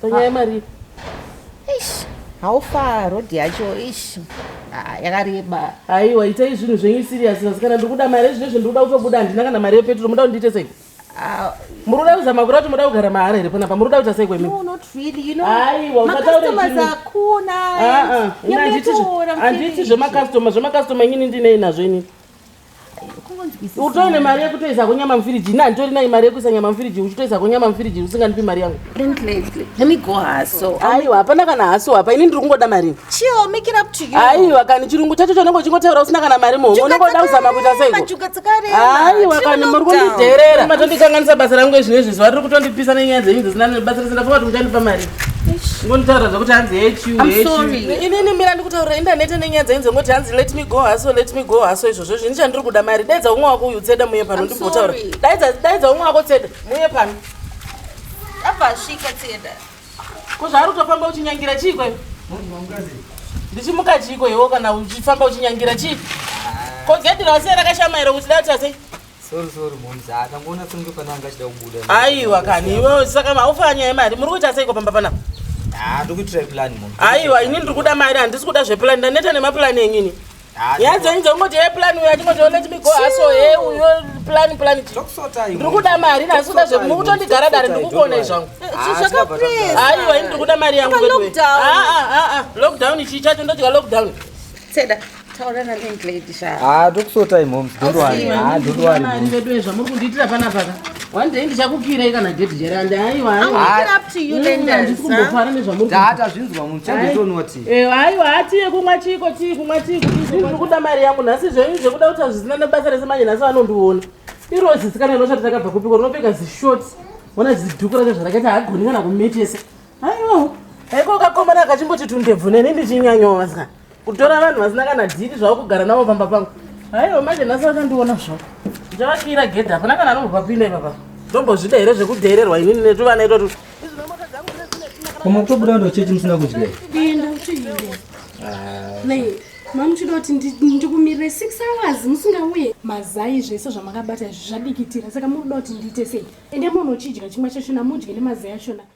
panyaya yemari ish how far road yacho ish Ah, yakareba haiwa itai zvinhu zvenyu serious nhasi kana ndiri kuda mari ezvinezvi ndiri kuda kutobuda handina kana mari yepetro muda kundiite sei Ah, muri kuda kuzama kura kuti muda kugara mahara here panapa muri kuda kuita sei kwemi no not really you know Aiwa, usataure macustomers zvinhu. hakuna Ah, ah. Ini handiti zve- Nyametoora, handiti finish. zvemakastoma zvemakastoma inini ndinei nazvo inini utoine mari yekutoisa ko nyama mufiriji ini handitori nayi mari yekuisa nyama mufiriji uchitoisa ko nyama mufiriji usingandipi mari yangu aiwa hapana kana haso apa ini ndiri kungoda mari aiwa kani chirungu chacho chaunenge uchingotaura usina kana mari muhomwe unongoda kuzama kuita seiko aiwa kani muri kundidherera matondikanganisa basa rangu ezvino izvi zuva riri kutondipisa nenyaya dzenyu dzisina basa risina faa kuti muchandipa mari ngonitaura zvekuti hanzi hechiuinini mira ndikutaurira indanete nenyaya dzainzi ngoti hanzi let me go haso let me go haso izvozvo izvi ndichandiri kuda mari daidza umwe wako uyu tseda muye pano ndimbotaura daidza umwe wako tseda muye pano abvasvika tseda ko zvaari kutofamba uchinyangira chii kweyo ndichimuka chii kweyowo kana uchifamba uchinyangira chii ko gedhi rase rakashamaira kuti dati asei Sorry sorry momz akangoona kunge pane anga achida kubuda. Aiwa kani iwe saka maufa nyaya yemari muri kuita seiko pamba panapa? Ah ndikuitira plan mom. Aiwa ini ndiri kuda mari handisi kuda zveplan ndaneta nemaplan enyu ini. Ah, nyaya dzenyu dzekungoti ye plan uyo atingoti oh, let me go aso he uyo plan plan ndiri kuda mari nhasi kuda zve mukutondigara dare ndikukuonai zvangu ah, aiwa ini ndiri kuda mari yangu ah, lockdown chii chacho ndodya lockdown taurana landlady sha ah talk so time moms don't worry ah don't worry mari vedu ezva muri kundiitira pana paka one day ndichakukirai kana date jere and aiwa aiwaandikumbokwara nezvamuri data zvinzwa munhu chanditonwa ti eh aiwa hati yekumwa chiiko chii kumwa chii kuri kuda mari yangu nhasi zvenyu zvekuda kuti hazvisina nebasa rese manje nhasi vanondiona irozi sikana inoshati takabva kupiko rinopfeka zishort ona zidhuku racho zvarakaita hagoni kana kumetesa aiwa haiko kakomana kachimboti tundebvu neni ndichinyanyawo vasika kutora vanhu vasina kana dhiri zvavo kugara navo pamba pangu aiwa manje nhasi vakandiona zvavo ndavakira gedhi hapana kana anombopapinda ipapa ndombozvida here zvekudheererwa inini netuvana itotu mutobuda ndo chechi musina kudya enda uchiinde mamuchida kuti ndikumirire six hours musingauye mazai zvese zvamakabata izvi zvadikitira saka mukuda kuti ndiite sei ende munhu uchidya chimwe chachona mudye nemazai achona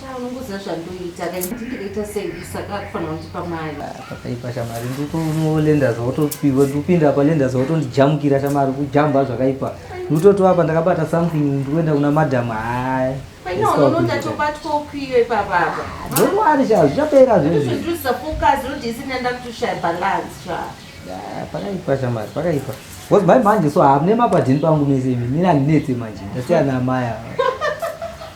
Sha unongoziva zvandoita ka nditi ndikaita sei saka akufanira kundipa mari Pakaipa shamari ndikunolendas wotopihwa ndikupinda apa lendas wotondijamukira shamari kujamba zvakaipa ndikutotova apa ndakabata something ndikuenda kuna madam haya paina unono ndatobatwa ukwiyo ipapa apa ndokwari sha zvichapera zvezvi ndozvondirudzisa focus roti isina ndakutoshaya balance sha Ah, pakaipa shamari pakaipa bcause mai manje so hamune mapadhini pangu mese imi nini handinetse manje ndasiyana amaya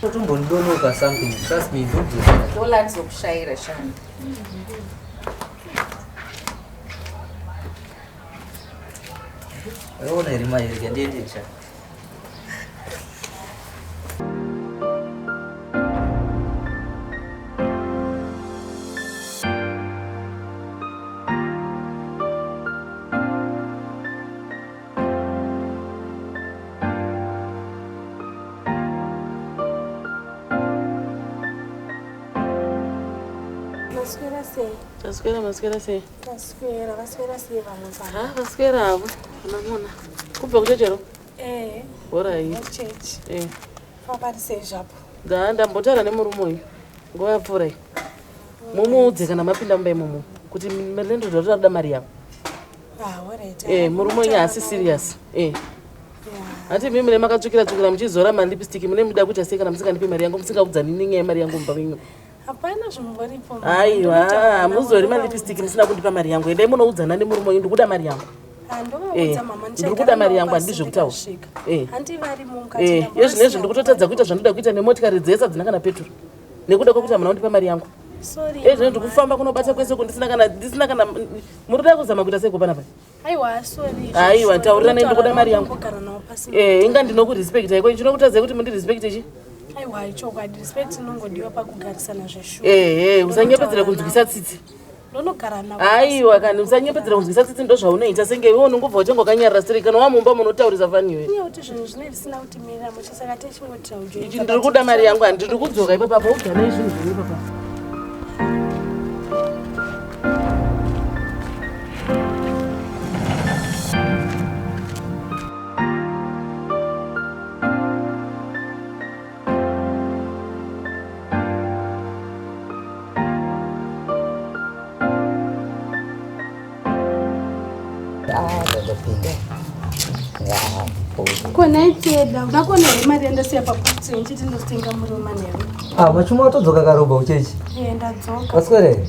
Totombondonoka something. Trust me, don't do that. Dola ndizokushaira shani. Rona iri mai rega ndiende cha. Maswera sei? Maswera, maswera sei? Maswera, maswera sei vamwe pa? Ha, maswera avo. Unamona. Kubva kuchechero? Eh. Bora hii. Kuchechi. Eh. Papari sei zvapo? Da, ndambotara nemurume uyu. Nguva yapfuura iyi. Mumuudze kana mapinda mumba imomo kuti landlord vari kuda mari yavo. Ah, eh, murume wenyu haasi serious eh. hati mimi mune makatsvukira tsvukira muchizora malipistiki mune muda kuita sei kana musingandipi mari yangu musingaudzani nenyaya yemari yangu mumba menyu hapana zvimboripo aiwa hamuzori malipistiki musina kundipa mari yangu endai munoudzana nemurume wenyu ndikuda mari yangu Eh, ndiri kuda mari yangu handii zvekutaura eh. eh, yezvinezvi ndikutotadza kuita zvandoda kuita nemotikari dzese hadzina kana peturu nekuda kwekuti hamuna kundipa mari yangu ezvino eh, ndikufamba kunobata kwese uko ndisina kana ndisina kana muri kuda kuzama kuita sei kupanapa aiwa taurira nei ndikuda mari yangu eh, inga ndinokurespekta iko chinokutadzai kuti mundirespekte chi aiwa ichokwadi respect inongodiwa pakugarisana zveshuwa ehe eh, usanyepedzera kunzwisa tsitsi ndonogara navo aiwa kana usanyepedzera kunzwisa tsitsi ndo zvaunoita senge iwe unongobva uchanga wakanyarira siri kana wamumba munotaurisa fani iwe iye kuti zvinhu zvine zvisina kuti mirira mushe saka techingotira ujo ichi ndiri kuda mari yangu handi ndiri kudzoka ipapa pa ugara izvinhu zvine papa kona iteda unakona here mari yandasiya paputi ndichiti ndotenga murima newe ah, vachimwa watodzoka karobha uchechi eh, ndadzoka waswere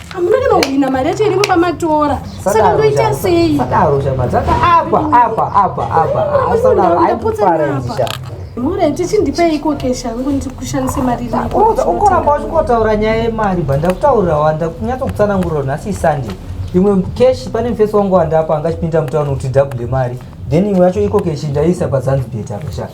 hamuna kana kuhwina mari yacho iri muba matora saka ndoita sei sadaro shama dzaka apa apa apa apa asadaro aikuparanzisha mure tichindipei iko kesha yangu ndikushandise mari ukoramba uchikotaura nyaya yemari bva ndakutaurira wanda kunyatso kutsananguriro nhasi isunday imwe keshi pane mufesi wangu wandapa angachipinda mutauni kuti dhabude mari then imwe yacho iko keshi ndaisa pazanzibet apa shaka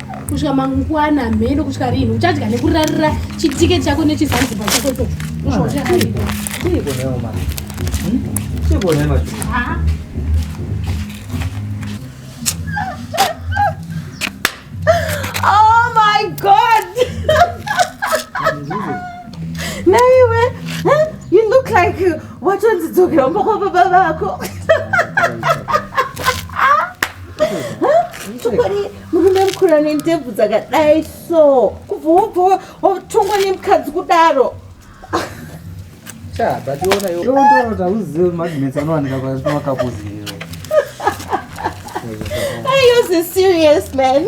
kusvika mangwana mheno kusvika rinhi uchadya nekurarira chitike chako nechizanziba chako to Oh my god! Naiwe, huh? you look like watonzi dzokera umba kwa baba vako. Huh? Chokwadi murume mukura nendebvu dzakadai so kubva wobva wotongwa nemukadzi kudaro chaabationayoondootakuzive magnets anowanika kwaakakuzive ayose serious man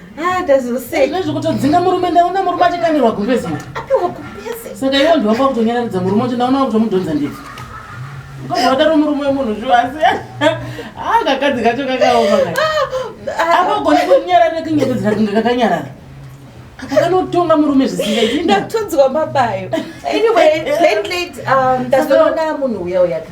Ah, zvekutodzinga murume ndaona murume achikanirwa gumbezi saka iwo ndiwamba kutonyararidza murume ucho ndaona kutomudhonza ndii kodwadaro murume wemunhu zviwa asi akakadzi ah, kacho kakaoma ah, apagoni kunyarara kinyebe dzina kunge kakanyarara apa kanotonga murume zvisingaiti ndatonzwa mabayo anyway late late um, ndazoona munhu uya uyaka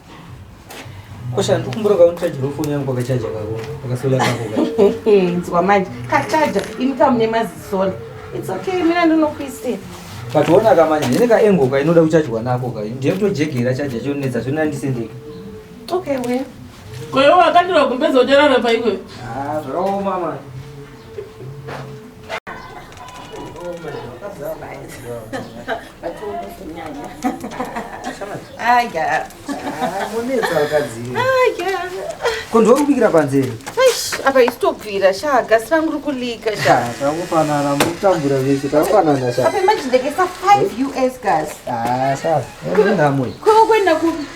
Kosha ndikumbura ka uncharger phone yangu kwa charger kako. Kwa solar kako. Nzwa manje. Ka charger imi kama ne mazi solar. It's okay mina ndinokuisira. But wona ka manje nene ka engo ka inoda kuchajwa nako ka. Ndiye to jegera charger cho netsa zvona ndisendeka. Okay we. Kwa hiyo wakati wakumbeza ujarara pa iwe. Ah, zvakaoma manje. kondwa kubikira panze apa isitobvira sha gasi rangu ri kulika shatangofanana mutambura vese tangofanana sha imagine ndekesa 5 us gas ah sha ndinamwe kuenda kupi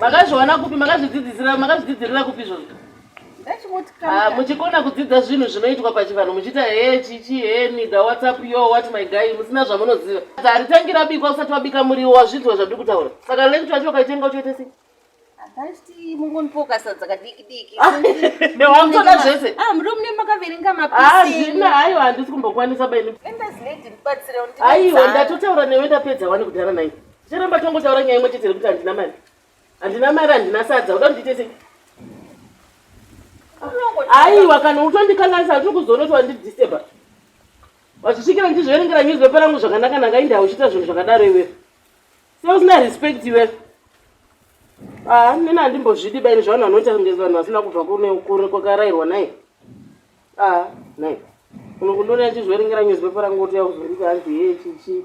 makazviwana kupi makazvidzidzisira makazvidzidzirira kupi izvozvo ah, muchikona kudzidza zvinhu zvinoitwa pachivanhu muchiita he chichi he mida whatsapp yo what my guy musina zvamunoziva haritangira bikwa usati wabika muriwo wazvinzwa zvandiri kutaura saka lenchi wacho ukaitenga uchoita sei wamtoda zvese hazvina aiwa handisi kumbokwanisa baini aiwa ndatotaura newe ndapedza wani kudhara nai Tiramba tongotaura nyaya imwe chete rekuti handina mari. Handina mari handina sadza. Uda kuti ndiite aiwa kana utondikanganisa tiri kuzoona kuti wandidisteba wazvisvikira ndizviverengera newspaper rangu zvakanaka nanga inde hauchiita zvinhu zvakadaro iwe seusina respect iwe aa nene handimbozvidi baini zvavanhu vanoita kunge vanhu vasina kubva kunekure kwakarairwa nai aa nai unokundonea chizviverengera newspaper rangu kuti yauzonditi hanzi hee chichi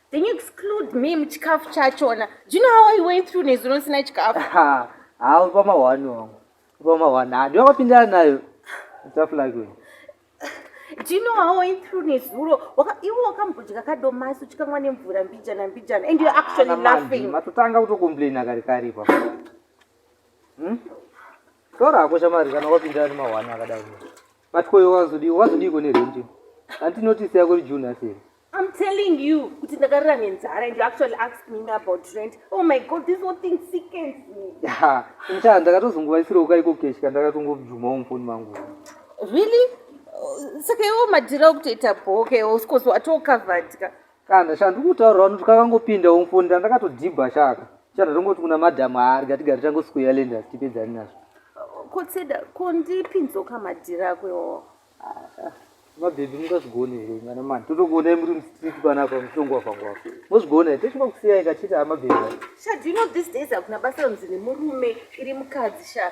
then you exclude me muchikafu chachona do you know how i went through nezuro ndisina chikafu haa upa mahwani wangu upa mahwani handi wakapindana nayo tough like you do you know how i went through nezuro iwe wakambodya kadomasi uchikamwa nemvura mbijana mbijana and you're actually ah, laughing matotanga kutocomplaina kari kari pa hmm? tora hako shamari kana wapindana nemahwani akadaro But koyo wazodii wazodiiko nerent hanti notice yako iri june aseri I'm telling you kuti ndakarira nenzara and you actually asked me about rent. Oh my god, this whole thing sickens me. Yeah, mcha ndakatozongovaisira ukaiko cash kandakatongobvuma mufoni mangu. Really? Saka iwo madhira okutoita bhoke, of course watocovered ka. kana sha ndikutaura vanoti kakangopinda umfonda ndakatodhibha shaka chata tongoti kuna madham haari gatigari tangosqueya lenda tipedzani nazvo kotseda ko ndipinzoka madhiri ako iwawo ah, mabhebhi mungazvigone here ngana mani totokuonai muri mustreet panapa mutongo wafangwako mozvigona here tochima kusiyai kachiti amabhebhi sha do you know this days hakuna basa ronzi nemurume iri mukadzi sha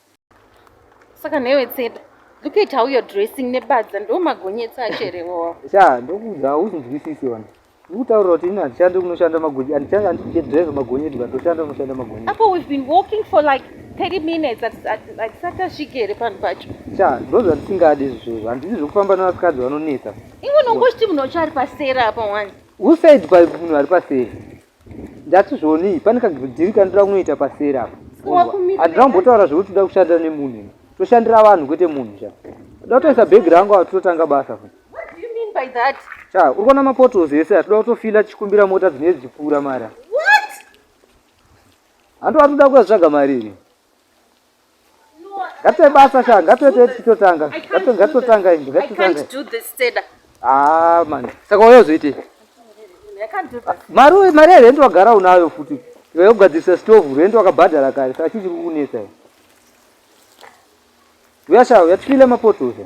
saka newe tseta look at how you're dressing nebadza ndo magonyetsa acherewa sha ndokuudza hausinzwisisi wani ndikutaurira kuti ini handishande kunoshanda magonye handishande handidrive magonye ega ndoshanda kunoshanda magonye apo we've been walking for like 30 minutes hatisati asvike here panhu pacho sha ndo zvandisingadi izvozvo handidi zvekufamba nevasikadzi vanonetsa iwe unongochiti munhu wacho ari pasera apa wani who said pa munhu ari pasera Ndati zvoni pane kagidhiri kandira kunoita pasera apa. Handina kumbotaura zvekuti toda kushanda nemunhu. Toshandira vanhu kwete munhu sha. Toda kutoisa bag rangu apa totanga basa. What do you mean by that? Sha, uri kuona mapotholes ese atoda kutofila tichikumbira mota dzine dzipfuura mara. What? Handu atoda kuya tsvaga mari iri. Ngate basa sha, ngate te titotanga. Ngate ngate totanga ingi, ngate totanga. I can't do this Teda. Ah man, saka uyo zoite. I can't do this. Maru mari ya rent wagara unayo futi. Iwe ugadzisa stove, rent wakabhadhara kare, saka chichi kukunetsa. Uyasha, uyatfile mapoto sha.